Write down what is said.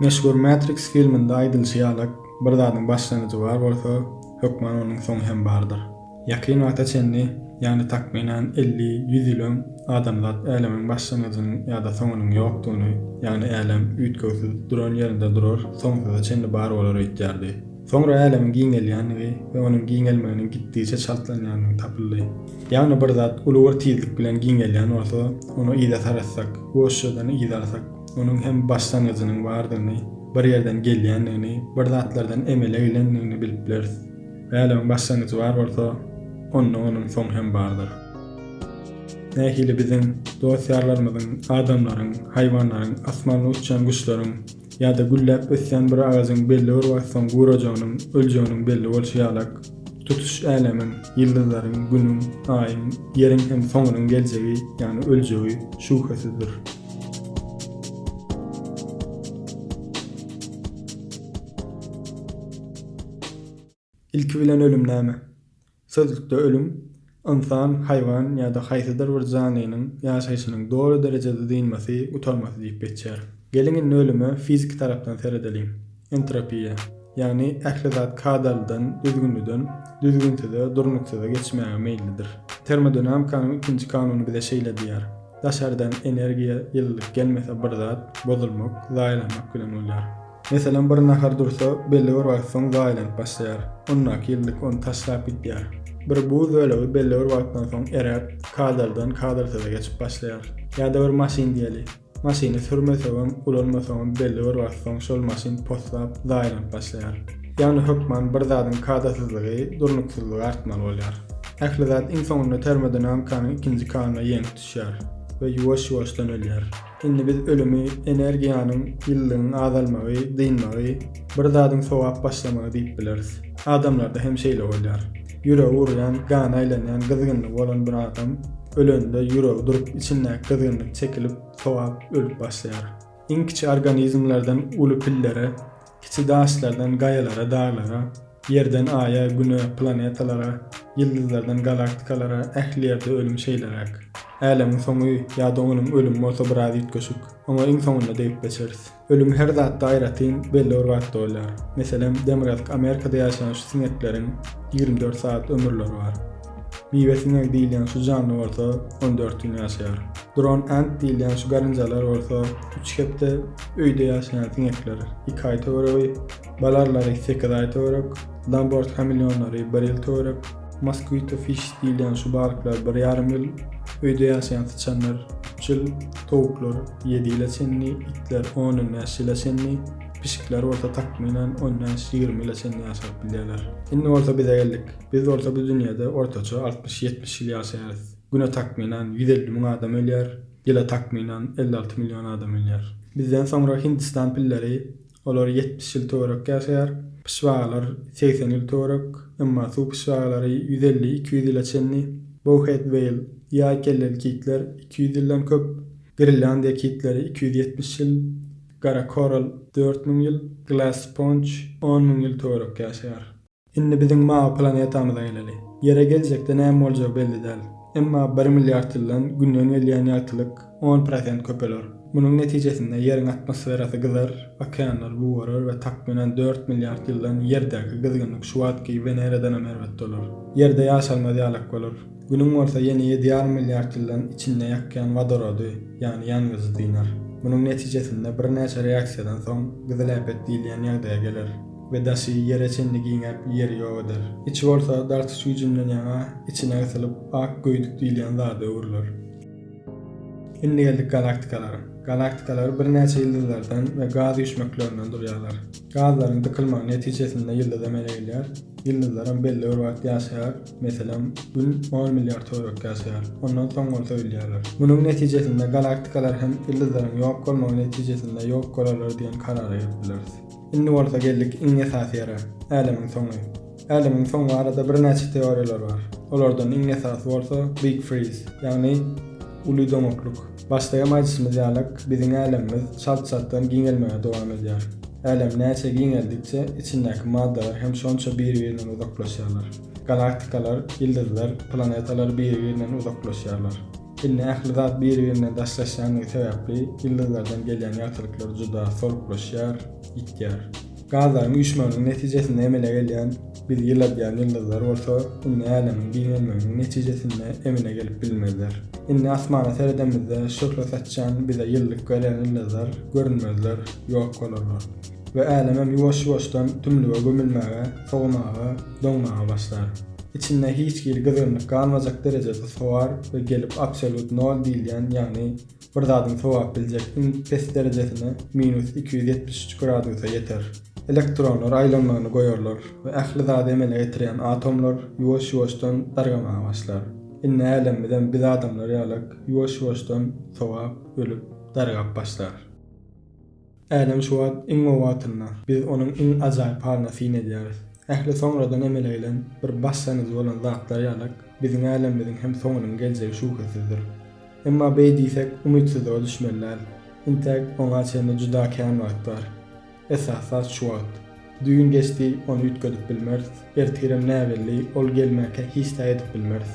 Meşhur Matrix filminde aýdylyşy ýaly, bir zadyň başlangyjy bar bolsa, hökman onuň soňy hem bardyr. Ýakyn wagta çenli, ýagny takmynan elli, ýüz ýyl öň, adamzat älemiň başlangyjynyň ýa-da soňunyň ýokdugyny, ýagny älem üýtgewsiz duran ýerinde durar, soňsuza çenli bar bolar öýtýärdi. Soňra älemiň giňelýändigi we onuň giňelmeginiň gitdigiçe çaltlanýandygy tapyldy. Ýagny bir zat uly bir tizlik bilen giňelýän bolsa, ony yza saratsak, boşjadan yza alsak, Onuň hem başlangyjynyň bardygyny, bir ýerden gelýändigini, bir zatlardan emele gelendigini bilip bileris. Bälegiň başlangyjy bar bolsa, onda onuň soňy hem bardyr. Nähili biziň, dost-ýarlarymyzyň, adamlaryň, haýwanlaryň, asmanda uçýan guşlaryň ýa-da gülläp ösýän bir agajyň belli bir wagt soň gurajagynyň, öljeginiň belli bolşy ýalak, tutuş älemiň, ýyldyzlaryň, Günüň, Aýyň, Ýeriň hem soňunyň geljegi, ýagny öljegi şübhesizdir. Ilki bilen ölüm näme? Sözlükde ölüm, ynsan, haýwan ýa-da haýsydyr bir janlynyň ýaşaýşynyň doly derejede dynmasy, gutarmasy diýip geçýär. Geliň indi ölüme fiziki tarapdan seredeliň. Entropiýa, ýagny ähli zat kadalydan, düzgünliden, düzgünsize, durnuksyza geçmäge meýillidir. Termodinamikanyň ikinji kanuny bize şeýle diýýär, Daşardan energiýa, ýylylyk gelmese bir zat, bozulmak, zaýalanmak bilen bolýar. Meselem, bir nahar dursa, belli bir wagt soň zaýalanyp başlaýar. Ondaky ýylylyk ony taşlap gidýär. Bir buz bölegi belli bir wagtdan soň eräp, kadalydan kadalsyza geçip başlaýar. Ýa-da bir maşyn diýeli. Maşyny sürmeseňem, ulanmasaňam belli bir wagt soň şol maşyn poslap, zaýalanyp başlaýar. Ýagny hökman bir zadyň kadasyzlygy, durnuksyzlygy artmaly bolýar. Ähli zat iň soňunda termodynamikanyň ikinji kanuna ýeňk düşýär we ýuwaş-ýuwaşdan ölýär. Indi biz ölümi energiýanyň, ýylylygyň azalmagy, dynmagy, bir zadyň sowap başlamagy diýip bileris. Adamlarda hem şeýle bolýar. Ýüregi urýan, gana aýlanýan gyzgynlygy bolan bir adam ölende ýüregi durup, içindäki gyzgynlyk çekilip, sogap ölüp başlaýar. Iň kiçi organizmlerden uly pillere, kiçi daşlardan gaýalara, daglara, ýerden aýa, güne, planetalara, ýyldyzlardan galaktikalara ähli ýerde ölüm şeýleräk. Älemiň soňy ýa-da onuň ölümi bolsa biraz üýtgeşik. Oňa iň soňunda degip geçeris. Ölüm her zatda aýratyn belli bir wagtda bolýar. Meselem, demirgazyk Amerikada ýaşan şu siňekleriň ýigrimi dört sagat ömürleri bar. Miwe siňegi diýilýän şu janly bolsa on dört gün ýaşaýar. Drone ant diýilýän şu garynjalar bolsa üç hepde, öýde ýaşaýan siňekler iki aý töweregi, balarlary sekiz aý töwerek, Lambert hameleonlary bir ýyl töwerek, mosquito fish diýilýän şu balyklar bir ýarym ýyl, öýde ýaşaýan syçanlar üç ýyl, towuklar, Ýedi ýyla çenli, itler on-on bäş ýyla çenli, pişikler bolsa takmynan on bäş-ýigrimi ýyla çenli ýaşap bilýärler. Indi bolsa bize geldik. Biz bolsa bu dünýede ortaça altmyş-ýetmiş ýyl ýaşaýarys. Güne takmynan ýüz elli müň adam ölýär, ýyla takmynan elli alty million adam ölýär. Bizden soňra Hindistan pilleri Olar ýetmiş ýyl töwerek ýaşaýar. Pyşbagalar segsen ýyl töwerek, emma suw pyşbagalary ýüz elli, iki ýüz ýyla çenli. Bowhead weýl, ýaý kelleli kitler, iki ýüz ýyldan köp. Grenlandiýa kitleri iki ýüz ýetmiş ýyl, gara koral dört müň ýyl, glass sponge on müň ýyl töwerek ýaşaýar. Indi biziň mawy planetamyza geleli. Ýere geljekde näme boljagy belli däl. Emma bir milliard ýyldan Günden gelýän ýagtylyk on prosent köpeler. Munuň netijesinde Ýeriň atmosferasy gyzar, okeanlar gugarar we takmynan dört milliard ýyldan Ýerdäki gyzgynlyk şu wagtky Weneradanam erbet dolar. Ýerde ýaşalmaz ýalak bolar. Günüň bolsa ýene ýedi ýarym milliard ýyldan içinde ýakýan wodorody, ýagny ýangyjy dynar. Munuň netijesinde birnäçe reaksiýadan soň gyzyl äpet diýilýän ýagdaýa geler. we daşy ýere çenli giňäp, ýeri ýok eder. Içi bolsa dartyş güýjünden ýaňa içine gysylyp, ak göýdük diýilýän zada öwrüler. Indi geldik galaktikalara. Galaktikalar birnäçe ýyldyzlardan we gaz üýşmeklerinden durýarlar. Gazlaryň dykylmagy netijesinde ýyldyz emele gelýär. Ýyldyzlaram belli bir wagt ýaşaýar, meselem, Gün on milliard töwerek ýaşaýar, ondan soň bolsa ölýärler. Munuň netijesinde galaktikalar hem ýyldyzlaryň ýok bolmagy netijesinde ýok bolarlar diýen karara gelip bileris. Indi bolsa geldik iň esasy ýere, Älemiň soňy. Älemiň soňy barada birnäçe teoriýalar bar. Olardan iň esasy bolsa Big Freeze, ýagny Uly doňaklyk. Başda hem aýdyşymyz ýalyk, biziň Älemimiz çalt-çaltdan giňelmäge dowam edýär. Älem näçe giňeldikçe, içindäki maddalar hem şonça biri-birinden uzaklaşýarlar. Galaktikalar, ýyldyzlar, planetalar biri-birinden uzaklaşýarlar. Indi ähli zat bir-birine daşlaşýandygy sebäpli ýyldyzlardan gelýän ýagtylyklar juda soluklaşýar, ýitýär. Gazlaryň üýşmeginiň netijesinde emele gelýän bizi ýyladýan ýyldyzlar bolsa indi älemiň giňelmeginiň netijesinde emele gelip bilmezler. Indi asmana seredemizde şöhle saçýan, bize ýylylyk berýän ýyldyzlar görünmezler, ýok bolarlar. We älemem ýuwaş-ýuwaşdan tümlüge gömülmäge, sowamaga, doňmaga başlar. Içinde hiç hili gyzgynlyk galmajak derejede sowar we gelip absolýut nol diýilýän, ýagny bir zadyň sowap biljek iň pes derejesine, minus iki ýüz ýetmiş üç gradusa ýeter. Elektronlar aýlanmagyny goýarlar we ähli zady emele getirýän atomlar ýuwaş-ýuwaşdan dargamaga başlar. Indi älemimizem biz adamlar ýalak ýuwaş-ýuwaşdan sowap, ölüp, dargap başlar. Älem şu wagt iň gowy wagtynda. Biz onuň iň ajaýyp halyna syn edýäris. Ähli soňradan emele gelen, bir başlangyjy bolan zatlar ýalak, biziň älemimiziň hem soňunyň geljegi şübhesizdir. Emma beý diýsek, umytsyzlyga düşmeli däl. Intäk, oňa çenli juda kän wagt bar. Esasy zat şu wagt. Düýn geçdi, ony üýtgedip bilmeris. Ertirem näbelli, ol gelmäkä hiç zat edip bilmeris.